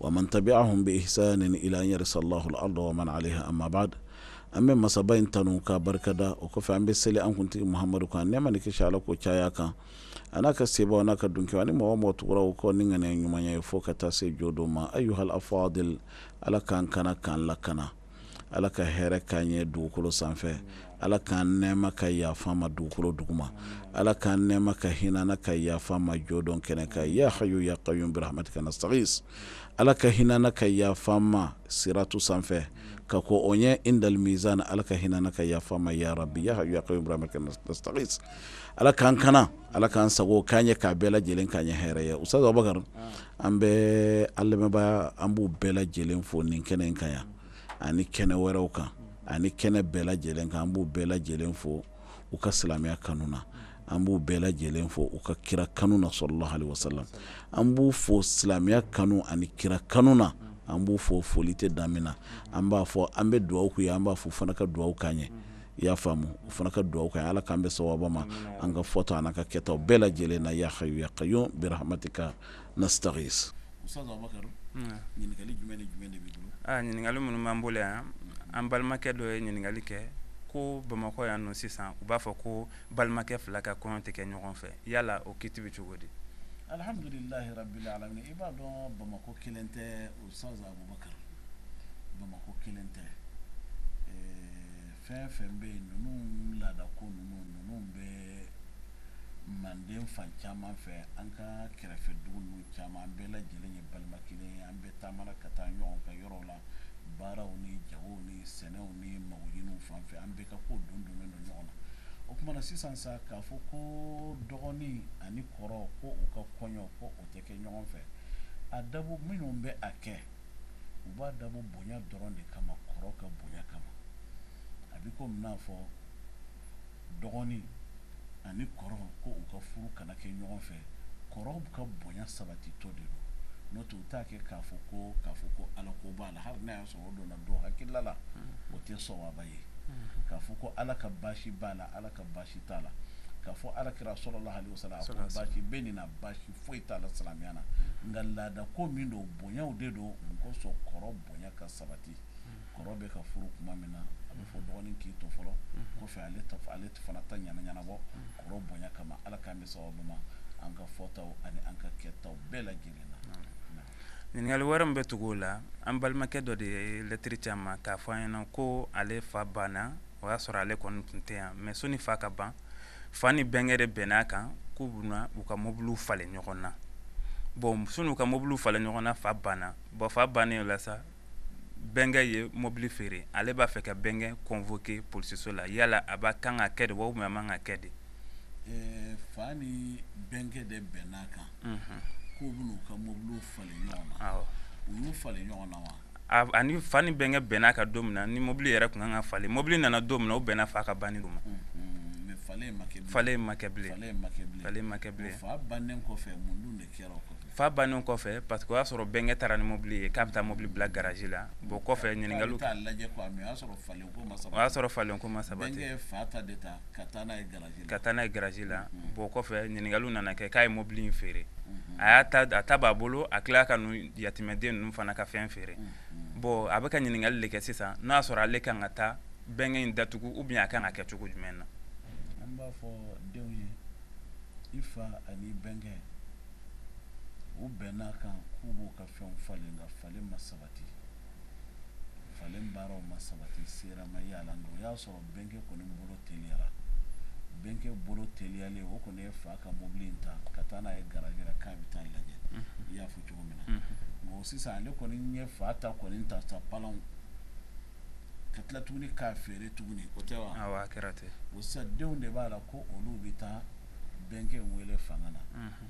wa man tabi'ahum bi ihsanin ila an yarisa llahu l arda wa man alayha amma ba'ad an bɛ masaba in tanu ka barikada o kɔfɛ an bɛ seli an kuntigi muhamadu kan nɛɛma ni kisi ala k'o caya a kan a n'a ka seba a n'a ka dunkɛw ani mɔgɔ mɔgɔ tugura o kɔ ni ŋaniya ɲuman ye fo ka taa se jɔdon ma ayuhal afadil ala k'an kana k'an lakana ala ka hɛrɛ k'an ye dugukolo sanfɛ ala k'an nɛɛma ka yafa an ma dugukolo duguma ala k'an nɛɛma ka hinɛ an na ka yafa an ma jɔdon kɛnɛ kan ya hayu ya kayumu bi rahmatika nastaghis ala ka hinɛ an na ka yafa an ma siratu sanfɛ ka ko o ɲɛ indal mizan ala ka hinɛ an na ka yafa an ma ya rabi ya hayu ya kayumu bi rahmatika nastaghis ala k'an kana ala k'an sago k'an ye k'a bɛɛ lajɛlen k'an ye hɛrɛ ye usa an bɛ an lamɛnbagaw an b'u bɛɛ lajɛlen fo nin kɛnɛ in kan yan ani kɛnɛ wɛrɛw kan ani kɛnɛ bɛɛ lajɛlen kan an b'u bɛɛ lajɛlen fo u ka silamɛya kanu na an b'u bɛɛ lajɛlen fo u ka kira kanu na salalahu alayhi wasalam an b'u fo silamɛya kanu ani kira kanu na an b'u fo foli tɛ dan min na an b'a fɔ an bɛ dugawu k'u ye an b'a fɔ u fana ka dugawu k'an ye i y'a faamu o fana ka dugawu k'an ye ala k'an bɛn sawaba ma an ka fɔtaw ani an ka kɛtaw bɛɛ lajɛlen na ya hayu ya kayumu bi rahmatika nastaghis usitazi abubakari ɲininkali jumɛn ni jumɛn b'i bolo ɲininkali minnu b'an bolo yan an balimakɛ dɔ ye ɲininkali kɛ ko bamakɔ yan nɔ sisan u b'a fɔ ko balimakɛ fila ka kɔɲɔ tɛ kɛ ɲɔgɔn fɛ yala o kiti bɛ cogo di Usitazi Abubakari Bamakɔ kelen tɛ ɛɛ fɛn o fɛn bɛ yen ninnu laadako ninnu ninnu bɛ manden fan caman fɛ an ka kɛrɛfɛ dugu ninnu caman an bɛɛ lajɛlen ye balima kelen ye an bɛɛ taamana ka taa ɲɔgɔn ka yɔrɔw la baaraw ni jagow ni sɛnɛw ni magoɲiniw fan fɛ an bɛɛ ka kow don donnen don ɲɔgɔn na o kuma na sisan sa k'a fɔ ko dɔgɔnin ani kɔrɔ ko u ka kɔɲɔ ko o tɛ kɛ ɲɔgɔn fɛ a dabɔ minnu bɛ a kɛ u b'a dabɔ bonya dɔrɔn de kama kɔrɔ ka bonya kama a bɛ komi n'a fɔ dɔgɔnin ani kɔrɔ ko u ka furu kana kɛ ɲɔgɔn fɛ kɔrɔ ka bonya sabatitɔ de don n'o tɛ u t'a kɛ k'a fɔ ko k'a fɔ ko ala ko b'a la hali n'a y'a sɔrɔ o donna dɔ hakilila la o tɛ sawaba ye k'a fɔ ko ala ka baasi b'a la ala ka baasi t'a la k'a fɔ ala kira salalahu alayhi wasalam ko baasi bɛ nin na baasi foyi t'a la silamɛya na nka laadako min don bonyaw de don mun kosɔn kɔrɔ bonya ka sabati kɔrɔ bɛ ka furu kuma min na a bɛ fɔ dɔgɔnin k'i to fɔlɔ kɔfɛ ale ale fana ta ɲana ɲɛnabɔ kɔrɔ bonya kama ala k'an bɛn sababu ma an ka fɔtaw ani an ka kɛtaw bɛɛ lajɛlen na Ɲininkali wɛrɛ min bɛ tugu o la an balimakɛ dɔ de ye lɛtiri ci an ma k'a fɔ an ɲɛna ko ale fa banna o y'a sɔrɔ ale kɔni tun tɛ yan mɛ sɔni fa ka ban fa ni bɛnkɛ de bɛnna a kan k'u bɛna u ka mobiliw falen ɲɔgɔn na bɔn sɔni u ka mobiliw falen ɲɔgɔn na fa banna bɔn fa bannen o la sa bɛnkɛ ye mobili feere ale b'a fɛ ka bɛnkɛ kɔnfɔke polisiso la yala a b'a kan ka kɛ de wa a man ka kɛ de fa ni bɛnkɛ de bɛnn'a kan k'u bɛn'u ka mɔbiliw falen ɲɔgɔn na u y'u falen ɲɔgɔn na wa ani fa ni bɛnkɛ bɛnn'a kan don min na ni mɔbili yɛrɛ tun kan ka falen mɔbili nana don min na o bɛnna fa ka banni don ma falen ma kɛ bilen falen ma kɛ bilen fa bannen kɔfɛ fa bannen kɔfɛ paski o y'a sɔrɔ bɛnkɛ taara ni mobili ye k'a bɛ taa mobili bila garaji la bɔn kɔfɛ ɲininka o y'a sɔrɔ falen ko ma sabati bɛnkɛ ye fa ta de ta ka taa n'a ye garaji la bɔn kɔfɛ ɲininkaliw nana kɛ k'a ye mobili in feere a y'a ta b'a bolo a tila ka yatimɛden ninnu fana ka fɛn feere bɔn a bɛ ka ɲininkali de kɛ sisan n'a y'a sɔrɔ ale kan ka taa bɛnkɛ in datugu ou bien a kan ka kɛ cogo jumɛn na i fa ani i bɛnkɛ u bɛnn'a kan k'u b'u ka fɛnw falen nka falen ma sabati falen baaraw ma sabati sera ma y'a la nka o y'a sɔrɔ bɛnkɛ kɔni bolo teliyara bɛnkɛ bolo teliyalen o kɔni ye fa ka mobili in ta ka taa n'a ye garaji la k'a bɛ taa lajɛ i y'a fɔ cogo min na nka sisan ale kɔni ye fa ta kɔni ta sa palanw ka tila tuguni k'a feere tuguni o tɛ wa awɔ a kɛra ten o sisan denw de b'a la ko olu bɛ taa bɛnkɛ wele fanga na mhm.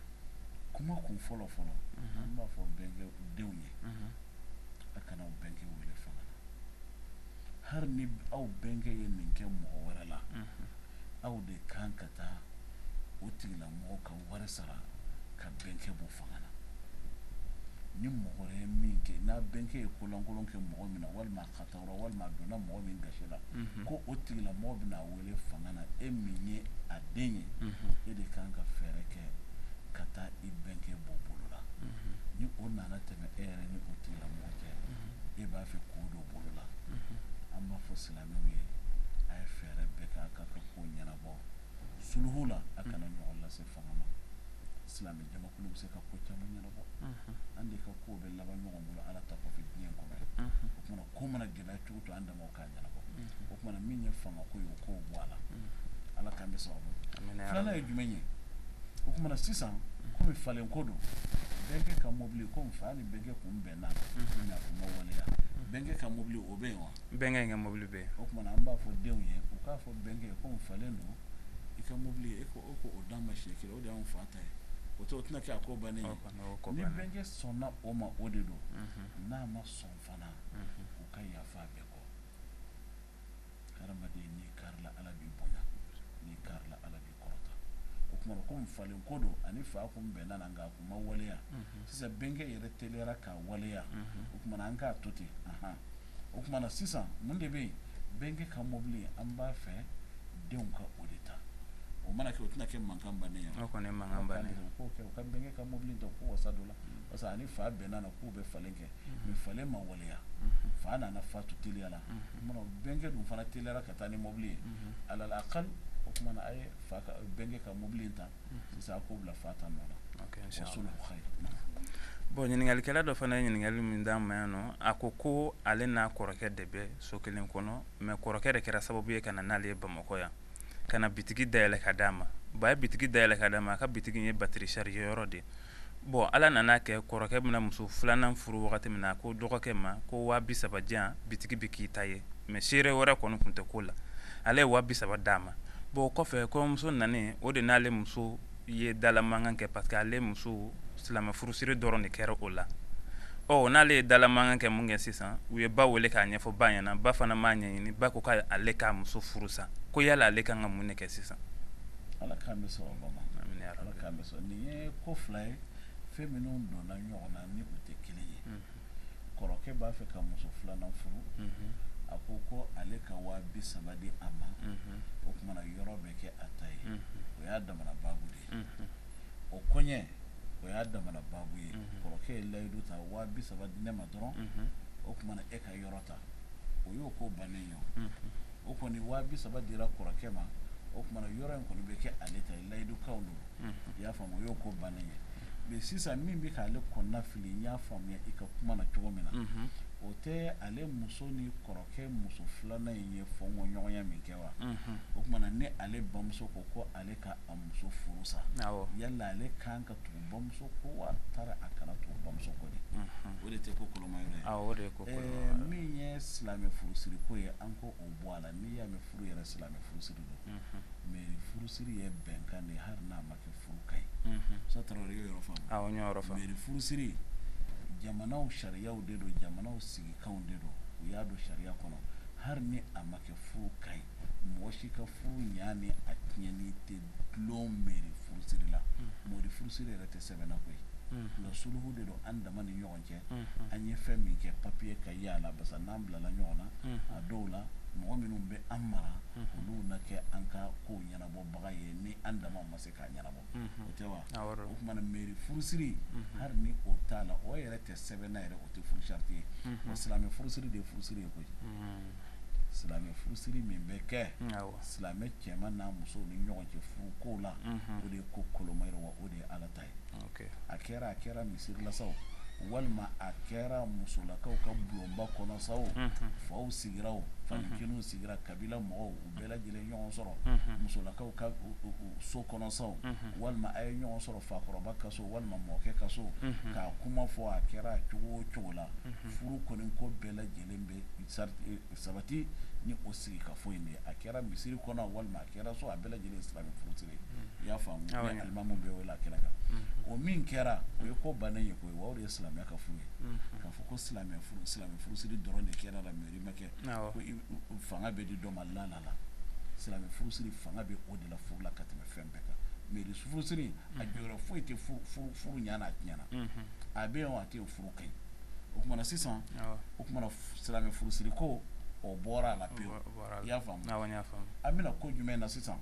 kuma kun fɔlɔ fɔlɔ mhm. an b'a fɔ bɛnkɛ denw ye mhm. a kana aw bɛnkɛ wele fanga na hali ni aw bɛnkɛ ye nin kɛ mɔgɔ wɛrɛ la aw de kan ka taa o tigilamɔgɔ ka wari sara ka bɛnkɛ bɔ fanga na ni mɔgɔ wɛrɛ ye min kɛ n'a bɛnkɛ ye kolankolon kɛ mɔgɔ min na walima ka taa walima a donna mɔgɔ min gasi la mhm. ko o tigilamɔgɔ bɛna a wele fanga na e min ye a den ye mhm. e de kan ka fɛɛrɛ kɛ ka taa i bɛnkɛ bɔ bolo la mhm. ni o nana tɛmɛ e yɛrɛ ni o tigilamɔgɔ cɛ e b'a fɛ k'o don bolo la an b'a fɔ silamɛw ye a ye fɛɛrɛ bɛɛ kɛ a ka ko ɲɛnabɔ suluhu la a kana ɲɔgɔn lase fanga ma silamɛ jamakulu bɛ se ka ko caman ɲɛnabɔ an de ka ko bɛ laban ɲɔgɔn bolo ala ta kɔfɛ diɲɛ kɔnɔ ye o tuma na ko mana gɛlɛya cogo o cogo an damaw k'a ɲɛnabɔ o tuma na min ye fanga ko ye o k'o bɔ a la ala kama sababu filanan ye jumɛn ye o tuma na sisan kɔmi falen ko don bɛnkɛ ka mɔbili kɔmi fa ni bɛnkɛ tun bɛnna a ma waleya bɛnkɛ ka mɔbili o bɛ yen wa Bɛnkɛ in ka mobili bɛ yen. O kuma na an b'a fɔ denw ye u k'a fɔ bɛnkɛ ye komi falen don i ka mobili ye e ko e ko o d'an ma siɲɛ kelen o de y'anw fa ta ye o tɛ o tɛna kɛ a ko bannen ye. O kɔni y'o ko bannen ye. Ni bɛnkɛ sɔnna o ma o de don. Unhun. N'a ma sɔn fana. Unhun. U ka yafa a bɛɛ kɔ. Hadamaden n'i karila Ala b'i bonya n'i karila Ala b'i o kuma na komi falen ko don a ni fa kun bɛnna a na nka a kun ma waleya sisan bɛnkɛ yɛrɛ teliyara k'a waleya o kuma na an k'a to ten o kuma na sisan mun de bɛ yen bɛnkɛ ka mobili an b'a fɛ denw ka o de ta o mana kɛ o tɛna kɛ mankan bannen ye o kɔni ye mankan bannen ye u ka bɛnkɛ ka mobili ta u k'u wasa don a la parce que a ni fa bɛnna a na k'u bɛ falen kɛ mais falen ma waleya fa nana fatu teliya la o kuma na bɛnkɛ dun fana teliyara ka taa ni mobili ye alal akali o kuma na a ye fa ka bɛnkɛ ka mobili in ta sisan a k'o bila fa ta nɔ la wasulu khayr bon ɲininkalikɛla dɔ fana ye ɲininkali min d'an ma yan nɔ a ko ko ale n'a kɔrɔkɛ de bɛ so kelen kɔnɔ mais kɔrɔkɛ de kɛra sababu ye ka na n'ale ye bamakɔ yan ka na bitigi da yɛlɛ ka d'a ma ba ye bitigi da yɛlɛ ka d'a ma a ka bitigi ye batterie chargée yɔrɔ de bon Ala nana a kɛ kɔrɔkɛ bɛna muso filanan furu wagati min na a ko dɔgɔkɛ ma ko waa bi saba di yan bitigi bɛ k'i ta ye mais seere wɛrɛ kɔni tun tɛ ko la ale ye waa bi saba d'a ma bon o kɔfɛ kɔɲɔmuso nanen o de n'ale muso ye dala mankan kɛ parce que ale muso silamɛ furusiri dɔrɔn de kɛra o la o n'ale ye dala mankan kɛ min kɛ sisan u ye ba wele k'a ɲɛfɔ ba ɲɛna ba fana m'a ɲɛɲini ba ko ko ale k'a muso furu sa ko yala ale kan ka mun ne kɛ sisan ala k'an bɛɛ sɔn o ma Amina yarabi. Ala k'an bɛɛ sɔn nin ye ko fila ye fɛn minnu donna ɲɔgɔn na ni u tɛ kelen ye kɔrɔkɛ b'a fɛ ka muso filanan furu a ko ko ale ka waa bi saba di a ma o kuma na yɔrɔ bɛ kɛ a ta ye o y'a damana baabu de ye o kɔɲɛ o y'a damana baabu ye kɔrɔkɛ ye layidu ta waa bi saba di ne ma dɔrɔn o kuma na e ka yɔrɔ ta o y'o ko bannen ye o kɔni waa bi saba dira kɔrɔkɛ ma o kuma na yɔrɔ in kɔni bɛ kɛ ale ta ye layidukanw don i y'a faamu o y'o ko bannen ye mais sisan min bɛ k'ale kɔnɔna fili n y'a faamuya i ka kuma na cogo min na o tɛ ale muso ni kɔrɔkɛ muso filanan in ye fɔɲɔgɔnya min kɛ wa o kuma na ni ale bamuso ko ko ale k'a muso furu sa yala ale kan bamuso kɔ wa tari a kana tugu bamuso kɔ de o de tɛ ko kolomayɔrɔ ye min ye silamɛ furusiri ko ye an ko o bɔ a la n'i y'a mɛn furu yɛrɛ silamɛ furusiri don mairie furusiri ye bɛnkan de hali n'a ma kɛ furu ka ɲi sa Tarawele y'o yɔrɔ faamu mairie furusiri jamanaw sariyaw de don jamanaw sigikanw de don u y'a don sariya kɔnɔ hali ni a ma kɛ furu ka ɲi mɔgɔ si ka furu ɲa ni a tiɲɛni tɛ dulon meri furusiri la mm-hmm. meri furusiri yɛrɛ tɛ sɛbɛn na koyi mm-hmm. nka suluhu de don an dama ni ɲɔgɔn cɛ mm-hmm. an ye fɛn min kɛ papiye ka ye a la parce que n'an bilala ɲɔgɔn na a dɔw la mɔgɔ minnu bɛ an mara olu na kɛ an ka kow ɲɛnabɔbaga ye ni an dama ma se k'a ɲɛnabɔ o tɛ wa o tuma na meri furusiri hali ni o t'a la o yɛrɛ tɛ sɛbɛn na yɛrɛ o tɛ furu sarati ye silamɛ furusiri de ye furusiri ye koyi silamɛ furusiri min bɛ kɛ silamɛ cɛ n'a muso ni ɲɔgɔn cɛ furu ko la o de ye ko koloma ye wa o de ye ala ta ye a kɛra a kɛra misiri la sa o walima a kɛra musolakaw ka bulonba kɔnɔ sa o faw sigira fa kelen sigira kabila mɔgɔw bɛɛ lajɛlen ɲɔgɔn sɔrɔ musolakaw ka so kɔnɔ sa o walima a ye ɲɔgɔn sɔrɔ fakɔrɔba ka so walima mɔkɛ ka so k'a kuma fɔ a kɛra cogo o cogo la furu kɔni ko bɛɛ lajɛlen bɛ sabati ni o sigi ka fɔ in a kɛra misiri kɔnɔ walima a kɛra so a bɛɛ lajɛlen silamɛ furusiri i y'a faamu ni alimamu bɛ wele a kɛnɛ kan o min kɛra o ye ko bannen ye koyi wa o de ye silamɛya ka furu ye k'a fɔ ko silamɛ silamɛ furusiri dɔrɔn de kɛra la mairie ma kɛ fanga bɛ di dɔ ma la la silamɛ furusiri fanga bɛ o de la furu la ka tɛmɛ fɛn bɛɛ kan mairie furusiri a jɔyɔrɔ foyi tɛ furu ɲa n'a tiɲɛ na a bɛ o a tɛ furu ka ɲi o tuma na sisan o tuma na silamɛ furusiri ko o bɔra a la pewu i y'a faamu an bɛna ko jumɛn na sisan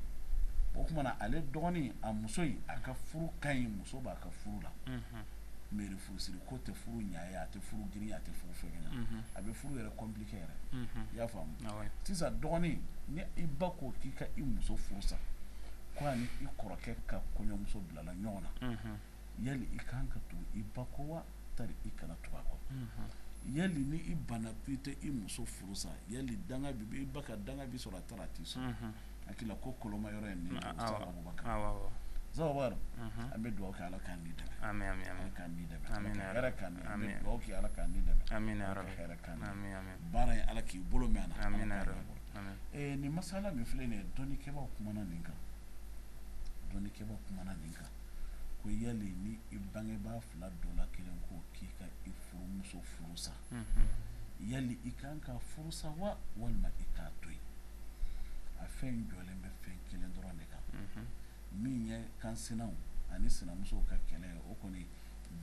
o tuma na ale dɔgɔnin a muso in a ka furu ka ɲi muso b'a ka furu la mairie furusiri ko tɛ furu ɲa ye a tɛ furu girinya a tɛ furu fɛgɛnya mhm. a bɛ furu yɛrɛ compliqué yɛrɛ mhm. i y'a faamu ah sisan dɔgɔnin ni i ba ko k'i ka i muso furu sa ko ani i kɔrɔkɛ ka kɔɲɔmuso bilala ɲɔgɔn na mhm. yali i kan ka tugu i ba kɔ wa tari i kana tugu a kɔ yali ni i banna k'i tɛ i muso furu sa yali danga b'i i ba ka danga b'i sɔrɔ wa tari a t'i sɔrɔ hakili ko koloma yɔrɔ ye ni Aboubacar an bɛ dugawu kɛ ala k'an n'i dɛmɛ baara in ala k'i bolo mɛn a na nin masala min filɛ nin dɔnnikɛbaw kumana nin kan dɔnnikɛbaw kumana nin kan ko yali ni i bangebaa fila dɔ la kelen ko k'i ka i furumuso furu sa yali i kan ka furu sa wa walima i k'a to yen a fɛn jɔlen bɛ fɛn kelen dɔrɔn de kan min ye kansinaw ani sinamusow ka kɛlɛ ye o kɔni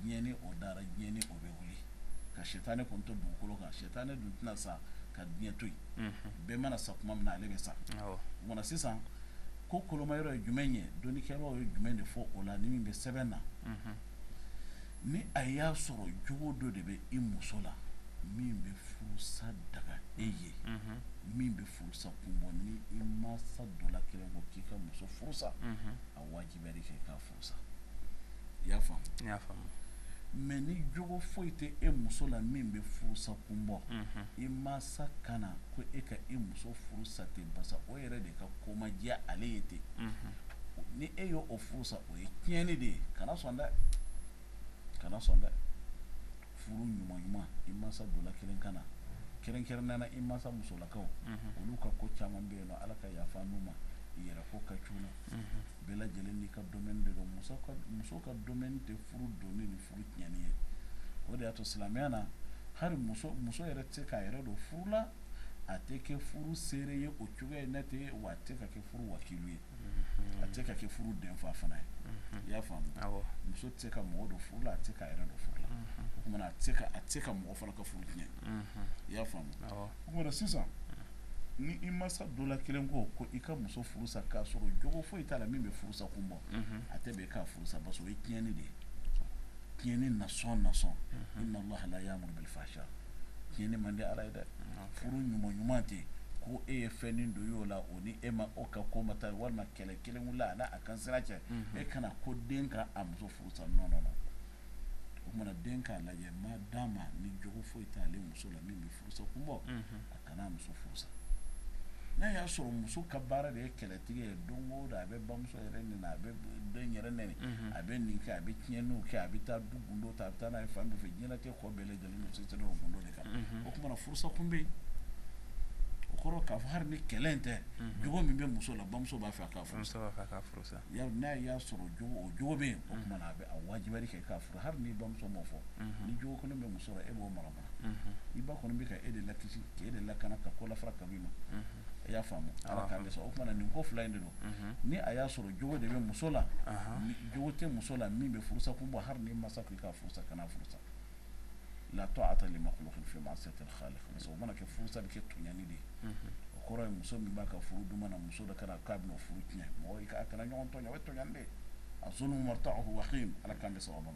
diɲɛ ni o dara diɲɛ ni o bɛ wuli ka sitanɛ kɔni to dugukolo kan sitanɛ dun tɛna sa ka diɲɛ to yen bɛɛ mana sa tuma min na ale bɛ sa o tuma na sisan ko kolomayɔrɔ ye jumɛn ye dɔnnikɛbaw ye jumɛn de fɔ o la ni min bɛ sɛbɛn na Ni a y'a sɔrɔ jogo dɔ de bɛ i muso la min bɛ furusa daga e ye min bɛ furusa kun bɔ ni i mansa dɔ la kelen ko k'i ka muso furusa a wajibiyara k'i k'a furusa i y'a faamu mɛ ni jogo foyi tɛ e muso la min bɛ furusa kun bɔ i mansa kana ko e ka e muso furusa ten basa o yɛrɛ de ka ko ma diya ale ye ten ni e y'o furusa o ye tiɲɛni de ye kana sɔn dɛ kana sɔn dɛ furu ɲuman ɲuman i mansa dɔ la kelen kana kɛrɛnkɛrɛn nana i mansa musolakaw olu ka ko caman bɛ yen nɔ ala ka yafa n'u ma yɛrɛ ko ka c'u la bɛɛ lajɛlen n'i ka domaine de don muso ka domaine tɛ furu donni ni furu tiɲɛni ye o de y'a to silamɛya na hali muso yɛrɛ tɛ se k'a yɛrɛ don furu la a tɛ kɛ furu seere ye o cogoya in na ten wa a tɛ ka kɛ furu wakilu ye a tɛ ka kɛ furu denfa fana ye i y'a faamu muso tɛ se ka mɔgɔ don furu la a tɛ se k'a yɛrɛ don furu la o tuma a tɛ se ka mɔgɔ fana ka furu tiɲɛ i y'a faamu o sisan ni i mansa dɔ la kelen ko ko i ka muso furusa k'a sɔrɔ jogo foyi t'a la min bɛ furusa kun bɔ a tɛ bɛn i k'a furusa basa o ye tiɲɛni de ye tiɲɛni na sɔn na sɔn inna laha la yuhibbul fasad tiɲɛni man di ala ye dɛ furu ɲuman ɲuman tɛ ko e ye fɛnnin dɔ y'o la o ni e ma o ka ko ma taa walima kɛlɛ kelen wulila a n'a ka sira cɛ e kana ko den ka a muso furusa nɔ nɔ o tuma na den k'a lajɛ ma d'a ma ni jogo foyi t'ale muso la min bɛ furusa kun bɔ a kana a muso furusa n'a y'a sɔrɔ muso ka baara de ye kɛlɛtigɛ ye don o don a bɛ bamuso yɛrɛ nɛni a bɛ den yɛrɛ nɛni a bɛ nin kɛ a bɛ tiɲɛni kɛ a bɛ taa du gundo ta a bɛ taa n'a ye fan fɛ diɲɛlatigɛ kɔ bɛɛ o furusa kun bɛ yen o kɔrɔ k'a fɔ hali ni kɛlɛ in tɛ jogo min bɛ muso la bamuso b'a fɛ a k'a furusa n'a y'a sɔrɔ o jogo bɛ yen o tuma a bɛ wajibi kɛ k'a fɔ hali ni bamuso m'o fɔ ni jogo kɔni bɛ muso la e b'o mara i ba kɔni bɛ ka e de lakisi k'e de lakana ka ko lafara ka b'i ma i y'a faamu ala k'an dɛsɛ o tuma nin ko fila in de don ni a y'a sɔrɔ jogo de bɛ muso la jogo tɛ muso la min bɛ furusa kun bɔ hali ni mansa k'i k'a furusa kana furusa la ta'ata li makhluqin fi ma'siyatil khaliq basa o mana kɛ furusa bɛ kɛ tɔɲɔni de ye o kɔrɔ ye muso min b'a ka furu duman na muso dɔ kana k'a bɛn'o furu tiɲɛ mɔgɔ k'a kana ɲɔgɔn tɔɲɔ o ye tɔɲɔni de ye azulmu marta'uhu wakhim ala k'an dɛsɛ o ma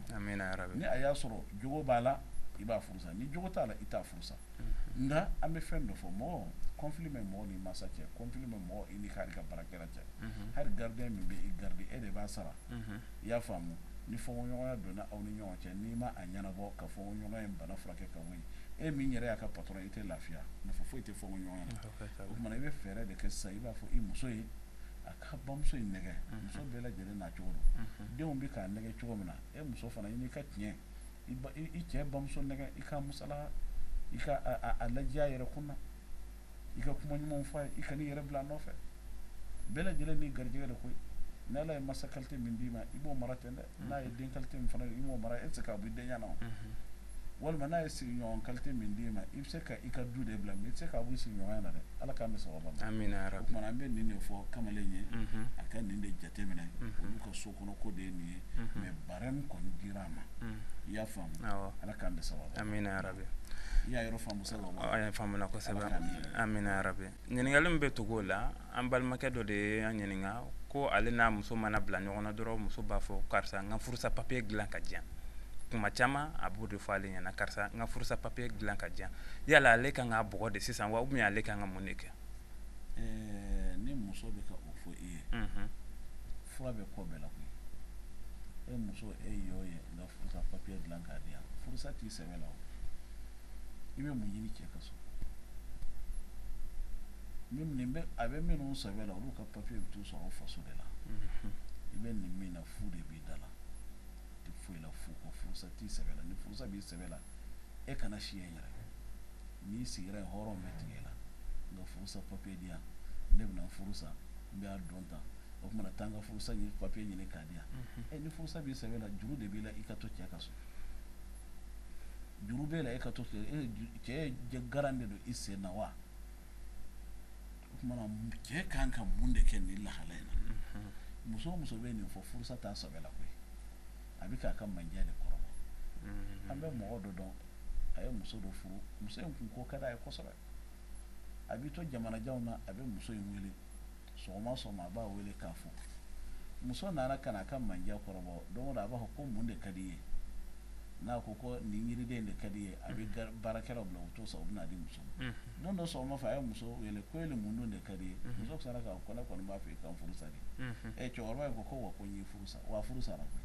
ni a y'a sɔrɔ jogo b'a la i b'a furusa ni jogo t'a la i t'a furusa nka an bɛ fɛn dɔ fɔ mɔgɔ conflit bɛ mɔgɔ ni mansa cɛ conflit bɛ mɔgɔ i ni hali i ka baarakɛla cɛ hali gardien min bɛ i garder e de b'a sara i y'a faamu ni fɔɲɔgɔnya donna aw ni ɲɔgɔn cɛ n'i ma a ɲɛnabɔ ka fɔɲɔgɔnya in bana furakɛ ka wuli e min yɛrɛ y'a ka patɔrɔn i tɛ lafiya nafa foyi tɛ fɔɲɔgɔnya la o tuma i bɛ fɛɛrɛ de kɛ sa i b'a fɔ i muso ye a ka bamuso in nɛgɛ muso bɛɛ lajɛlen n'a cogo don denw bɛ k'a nɛgɛ cogo min na e muso fana i n'i ka tiɲɛ i cɛ bamuso nɛgɛ i ka musala i ka a lajɛya yɛrɛ kun na i ka kuma ɲumanw fɔ a ye i kan'i yɛrɛ bila a nɔfɛ bɛɛ lajɛlen n'i garijɛgɛ de koyi n'ala ye masa kalite min d'i ma i b'o mara ten dɛ n'a ye den kalite min fana i b'o mara e tɛ se k'a bɔ i denya na walima n'a ye sigiɲɔgɔn kalite min d'i ma i bɛ se ka i ka du de bila mɛ i tɛ se k'a bɔ i sigiɲɔgɔnya na dɛ ala k'an bɛn sawaba ma amina yarabi o tuma an bɛ nin de fɔ kamalen ye a ka nin de jateminɛ olu ka so Ko de ye nin ye mɛ baara min kɔni dira a ma i y'a faamu ala k'an bɛn sawaba ma amina yarabi i y'a yɔrɔ faamuya kosɛbɛ amina yarabi ɲininkali min bɛ tugu o la an balimakɛ dɔ de ye an ɲininka ko ale n'a muso mana bila ɲɔgɔn na dɔrɔn muso b'a fɔ karisa n ka furusa papiye dilan k'a di yan kuma caman a b'o de fɔ ale ɲɛna karisa n ka furusa papiye dilan k'a di yan yala ale ka kan k'a bugɔ de sisan wa ou bien ale ka kan ka mun de kɛ ɛɛ ni muso bɛ ka o fɔ i ye fura bɛ ko bɛɛ la koyi e muso e y'o ye n ka furusa papiye dilan k'a di yan furusa t'i sɛbɛ la o i bɛ mun ɲini cɛ ka so a bɛ minnu sɛbɛ la olu ka papiye bɛ t'u sɔrɔ u faso de la i bɛ nin min na fu de b'i da la i tɛ foyi la fu kɔ furusa t'i sɛbɛ la ni furusa b'i sɛbɛ la e kana si yen yɛrɛ N'i sira yen hɔrɔn bɛ tigɛ i la n ka furusa papiye di yan ne bɛna furusa n b'a dɔn tan o kuma na taa n ka furusa in papiye ɲini k'a di yan e ni furusa b'i sɛbɛ la juru de b'i la i ka to cɛ ka so juru b'e la e ka to cɛ ye garan de don i sen na wa o kuma na cɛ ka kan ka mun de kɛ nin lahala in na muso o muso bɛ nin fɔ furusa t'a sɛbɛ la koyi a bɛ k'a ka mandiya de kɔrɔbɔ mm-hmm. an bɛ mɔgɔ dɔ dɔn a ye muso dɔ furu muso in kun ko ka d'a ye kosɛbɛ a bɛ to jamanajan na a bɛ muso in wele sɔgɔma sɔgɔma a b'a wele k'a fo muso nana ka na a ka mandiya kɔrɔbɔ don o don a b'a fɔ ko mun de ka d'i ye n'a ko ko nin yiriden de ka di n ye a bɛ mm-hmm. baarakɛlaw bila u t'o san u bɛ n'a di muso ma don dɔ sɔgɔma fɛ a ye muso wele ko ni mun de ka d'i ye muso sara k'a ko ne kɔni b'a fɛ i ka n furu sa de ɛ cɛkɔrɔba in ko ko wa ko n y'i furu sa wa furu sara koyi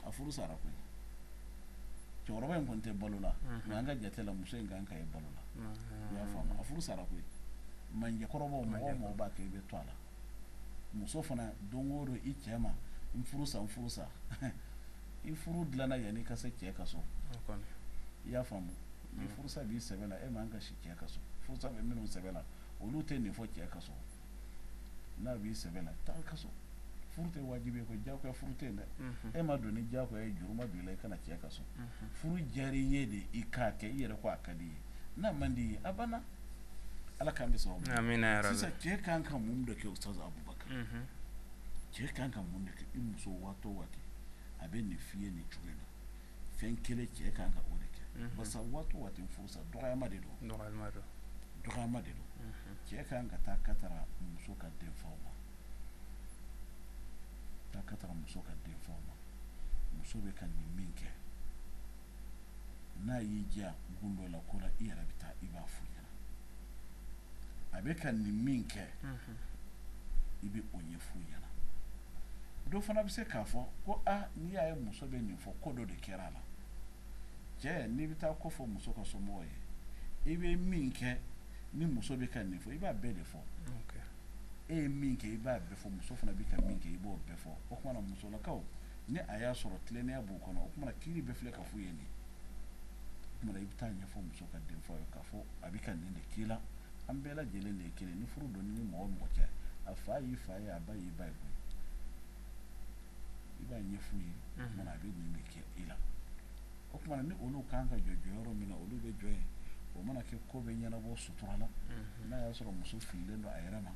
a furu sara koyi cɛkɔrɔba in kɔni tɛ balo la mɛ an ka jate la muso in kan ka ye balo la i y'a faamu a furu sara koyi mandiya kɔrɔbɔ mɔgɔ o mɔgɔ b'a kɛ i bɛ to a la muso fana don o don i cɛ ma n furu sa n furu sa i furu dilanna yanni i ka se cɛ ka so i y'a faamu ni furusa b'i sɛbɛ la e man kan ka si cɛ ka so furusa bɛ minnu sɛbɛ la olu tɛ nin fɔ cɛ ka so n'a b'i sɛbɛ la taa ka so furu tɛ wajibi ye ko diyagoya furu tɛ yen dɛ e ma don ni diyagoya ye juru ma don i la i ka na cɛ ka so furu diyara i ye de i k'a kɛ i yɛrɛ ko a ka di i ye n'a man di i ye a banna ala k'an bɛɛ sababu amina yarabi sisan cɛ kan ka mun de kɛ ustaz abubakar cɛ kan ka mun de kɛ i muso waati o waati a bɛ nin f'i ye nin cogo in na fɛn kelen cɛ kan ka o de kɛ basa waati o waati furusa dɔgɔma de don dɔgɔma de don cɛ ka kan ka taa ka taara muso ka denfaw ma taa ka taara muso ka denfaw ma muso bɛ ka nin min kɛ n'a y'i degun dɔ la ko la i yɛrɛ bɛ taa i b'a f'u ɲɛna a bɛ ka nin min kɛ i bɛ o ɲɛf'u ɲɛna dɔ fana bɛ se k'a fɔ ko aa n'i y'a ye muso bɛ nin fɔ ko dɔ de kɛra a la cɛ n'i bɛ taa ko fɔ muso ka somɔgɔw ye i bɛ min kɛ ni muso bɛ ka nin fɔ i b'a bɛɛ de fɔ e ye min kɛ i b'a bɛɛ fɔ muso fana bɛ ka min kɛ i b'o bɛɛ fɔ o kumana musolakaw ni a y'a sɔrɔ tilennenya b'u kɔnɔ o kumana kiiri bɛ filɛ ka f'u ye nin o kumana i bɛ taa ɲɛfɔ muso ka denfaw ye k'a fɔ a bɛ ka nin de k'i la an bɛɛ lajɛlen de ye kelen ni furu don ni mɔgɔ mɔgɔ cɛ a fa y'i fa ye a ba y'i ba ye koyi i b'a ɲɛf'u ye o kumana a bɛ nin de kɛ i la o kumana ni olu kan ka jɔ jɔyɔrɔ min na olu bɛ jɔ yen o mana kɛ ko bɛ ɲɛnabɔ sutura la n'a y'a sɔrɔ muso fililen don a yɛrɛ ma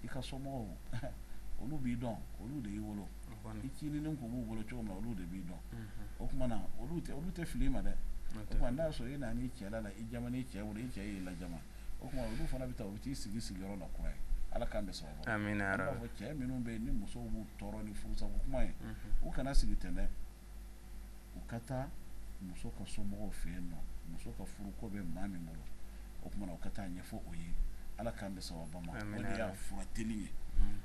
i ka somɔgɔw olu b'i dɔn olu de y'i wolo i cinin tun b'u bolo cogo min na olu de b'i dɔn o tuma na olu olu tɛ fili i ma dɛ o n'a sɔrɔ i nana i cɛ la i cɛ wolo i cɛ y'i lajaba o tuma olu fana bɛ taa u t'i sigi sigiyɔrɔ la kura ye ala k'an bɛɛ sɔrɔ cɛ minnu bɛ yen ni musow b'u tɔɔrɔ ni furusa kuma ye u kana sigi ten dɛ u ka taa muso ka somɔgɔw fɛ yen nɔ muso ka furu ko bɛ maa min bolo o tuma u ka taa ɲɛfɔ o ye ala k'an bɛɛ sababu o de y'a fura teli ye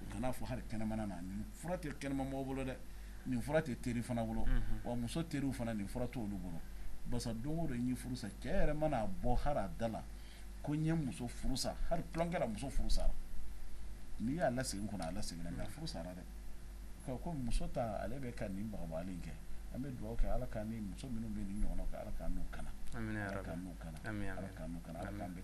u kan'a fɔ hali kɛnɛmana na fura tɛ kɛnɛma mɔgɔw bolo dɛ nin fura tɛ teri fana bolo unhun, wa muso teriw fana nin fura t'olu bolo basa don o don n ye furu sa cɛ yɛrɛ mana a bɔ hali a da la ko n ye muso furu sa hali tulonkɛ la muso furu sara n'i y'a lasegin kɔnɔ a laseginna mais a furu sara dɛ ko ko muso ta ale bɛ ka nin bagabagali in kɛ an bɛ dugawu kɛ ala ka ni muso minnu bɛ nin ɲɔgɔnna kɛ ala k'an n'u kana amina yarabi ala k'an n'u kana amina amina ala k'an n'u kana ala k'an bɛɛ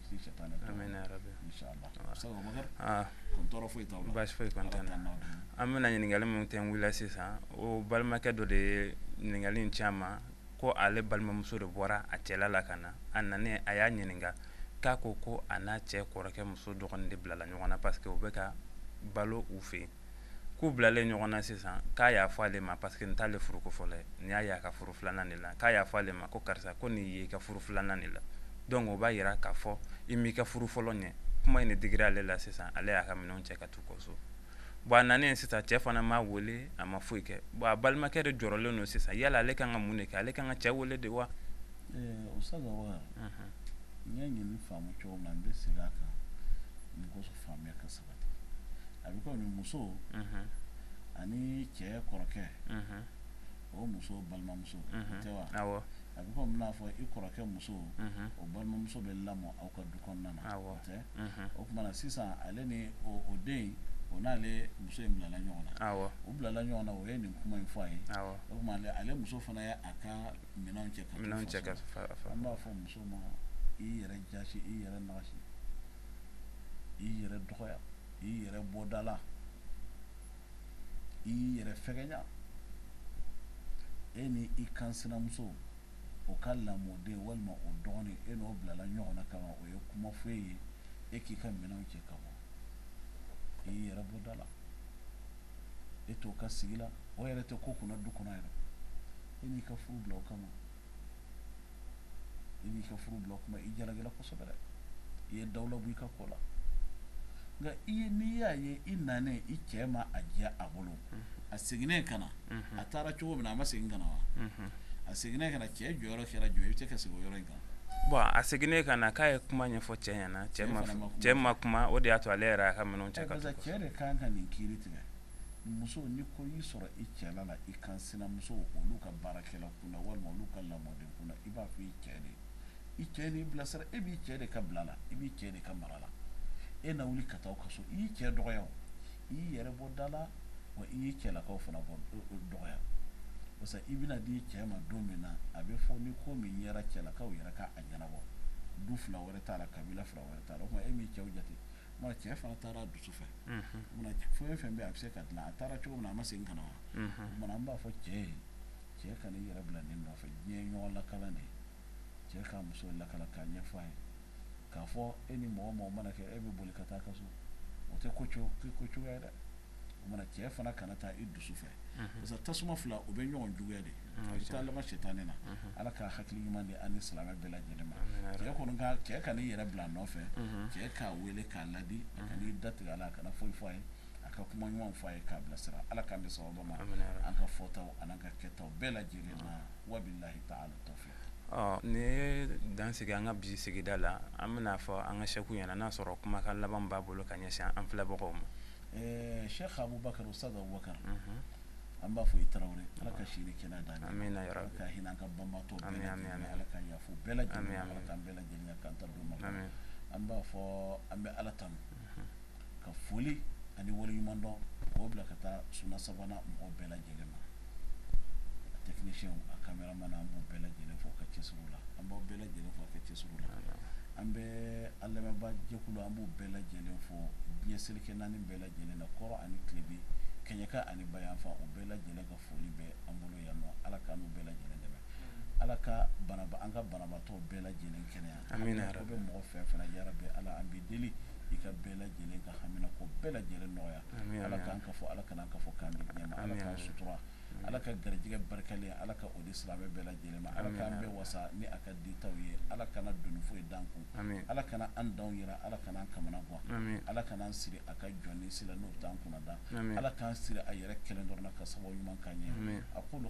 an bɛna ɲininkali min tɛ wili sisan o balimakɛ dɔ de ye ɲininkali ci an ma ko ale balimamuso de bɔra a cɛla la ka na a nanen a y'a ɲininka k'a ko ko a n'a cɛ kɔrɔkɛ muso dɔgɔnin de bilala ɲɔgɔn na parce que u bɛ ka balo u fɛ yen k'u bilalen ɲɔgɔn na sisan k'a y'a fɔ ale ma parce que n t'ale furuko fɔlɔ ye nin y'a y'a ka furu filanan de la k'a y'a fɔ ale ma ko karisa ko nin y'i ka furu filanan de la donc o b'a yira k'a fɔ i m'i ka furu fɔlɔ ɲɛ kuma in de digira ale la sisan ale y'a ka minɛnw cɛ ka t'u ka so bon a nanen sisan cɛ fana m'a wele a ma foyi kɛ bon a balimakɛ de jɔrɔlen don sisan yala ale kan ka mun de kɛ ale kan ka cɛ wele de wa eh, o saga wa n y'a ɲini faamu cogo min na n bɛ segin a kan nin ko faamuya ka saba a bɛ komi muso ani cɛ kɔrɔkɛ o muso balimamuso tɛ wa a bɛ komi n'a fɔ i kɔrɔkɛ muso o balimamuso bɛ lamɔ aw ka du kɔnɔna na tɛ o tuma na sisan ale ni o den o n'ale muso in bilala ɲɔgɔn na u bilala ɲɔgɔn na o ye nin kuma in fɔ a ye o tuma ale muso fana ye a ka minɛnw cɛ an b'a fɔ muso ma i yɛrɛ jaasi i yɛrɛ i yɛrɛ dɔgɔya i yɛrɛ bɔ da la i yɛrɛ fɛgɛya e ni i kansinamuso o ka lamɔden walima o dɔgɔnin e n'o bilala ɲɔgɔn na kama o ye kuma fɔ e ye e k'i ka minɛnw cɛ ka bɔ i yɛrɛ bɔ da la e t'o ka sigi la o yɛrɛ tɛ ko kunna du kɔnɔ yɛrɛ e n'i ka furu bila o kama i b'i ka furu bila o kama i jalakila kosɛbɛ i ye dawula bɔ i ka ko la nka i ye n'i y'a ye i nanen i cɛ ma a diya a bolo a seginnen ka na a taara cogo min na a ma segin ka na wa a seginnen ka na cɛ jɔyɔrɔ kɛra jumɛn i bɛ se ka segin o yɔrɔ in kan bon a seginnen ka na k'a ye kuma ɲɛfɔ cɛ ɲɛ na cɛ ma kuma. cɛ ma kuma o de y'a to ale yɛrɛ y'a ka minɛnw cɛ ka taa parce que cɛ de kan ka nin kiiri tigɛ muso ni ko y'i sɔrɔ i cɛla la i kansinamuso olu ka baarakɛlaw kunna walima olu ka lamɔden kunna i b'a fɔ i cɛ de i cɛ n'i bilasira e b'i cɛ de ka bila la i b'i cɛ de ka mara la e na wuli ka taa ka so i y'i cɛ dɔgɔya i y'i yɛrɛ bɔ da la wa i y'i cɛlakaw fana bɔ dɔgɔya parce que i bɛna di cɛ ma don min na a bɛ fɔ ni ko min yɛrɛ cɛlakaw yɛrɛ k'a ɲɛnabɔ du fila wɛrɛ t'a la kabila fila wɛrɛ t'a la o tuma e m'i cɛw jate mana cɛ fana taara dusu fɛ fɛn fɛn bɛ a bɛ se ka dilan a taara cogo min na a ma segin ka na wa an b'a fɔ cɛ ye cɛ kan'i yɛrɛ bila nin nɔfɛ diɲɛ ye ɲɔgɔn lakala de ye cɛ ka muso lakala k'a ɲɛfɔ a ye k'a fɔ e ni mɔgɔ mɔgɔ mana kɛlɛ e bɛ boli ka taa ka so o tɛ ko ko cogoya ye dɛ o mana cɛ fana kana taa i dusu fɛ parce que tasuma fila o bɛ ɲɔgɔn juguya de taa laban sitanɛ na ala ka hakili ɲuman di an ni silamɛ bɛɛ lajɛlen ma cɛ kɔni cɛ kan'i yɛrɛ bila nɔfɛ cɛ k'a wele k'a laadi a kan'i da tigɛ a la a kana foyi fɔ a ye a ka kuma ɲumanw fɔ a ye k'a bilasira ala k'an bɛn sawaba ma an ka fɔtaw n'an ka kɛtaw bɛɛ lajɛlen na wabilahi taala tawfiki nin ye dan sigi an ka bi sigida la an bɛn'a fɔ an ka sɛku ɲɛna n'a sɔrɔ kumakan laban b'a bolo ka ɲɛsin an filɛbagaw ma sɛki abubakar usitazi abubakar an b'a fɔ i tarawele ala ka si ni kɛnɛya d'an ma ka hinɛ an ka banbaatɔ ala ka yafa bɛɛ lajɛlen an bɛɛ lajɛlen kanta ma an b'a fɔ an bɛ ala tan ka foli ani waleɲumandɔn k'o bila ka taa suna savana mɔgɔ bɛɛ lajɛlen ma tɛkinisiyɛn a kameramani an b'u bɛɛ lajɛlen fo u ka cɛsiri la an b'aw bɛɛ lajɛlen fo a ka cɛsiri la an bɛ an lamɛnbaa jɛkulu an b'u bɛɛ lajɛlen fo diɲɛ seleke naani bɛɛ lajɛlen na kɔrɔn ani tilebin kɛɲɛka ani bayanfan u bɛɛ lajɛlen ka foli bɛ an bolo yan ala k'an n'u bɛɛ lajɛlen dɛmɛ ala ka an ka banabaatɔ bɛɛ lajɛlen kɛnɛya ko bɛ mɔgɔ fɛn fɛn na yarabi ala an b'i deli i ka bɛɛ lajɛlen ka haminanko bɛɛ lajɛlen nɔgɔya ala ka ka fɔ ala kana ka fɔ kan ala k'an sutura ala ka garijɛgɛ barikalen ala ka o di silamɛ bɛɛ lajɛlen ma ala k'an bɛɛ wasa ni a ka dita ye ala kana doni foyi d'an kun ala kana an dan yira ala kana an kamana gan ala kana an siri a ka jɔnnin si la n'o dan kun da ala k'an siri a yɛrɛ kelen dɔrɔn na ka sababu ɲuman k'an ye akulu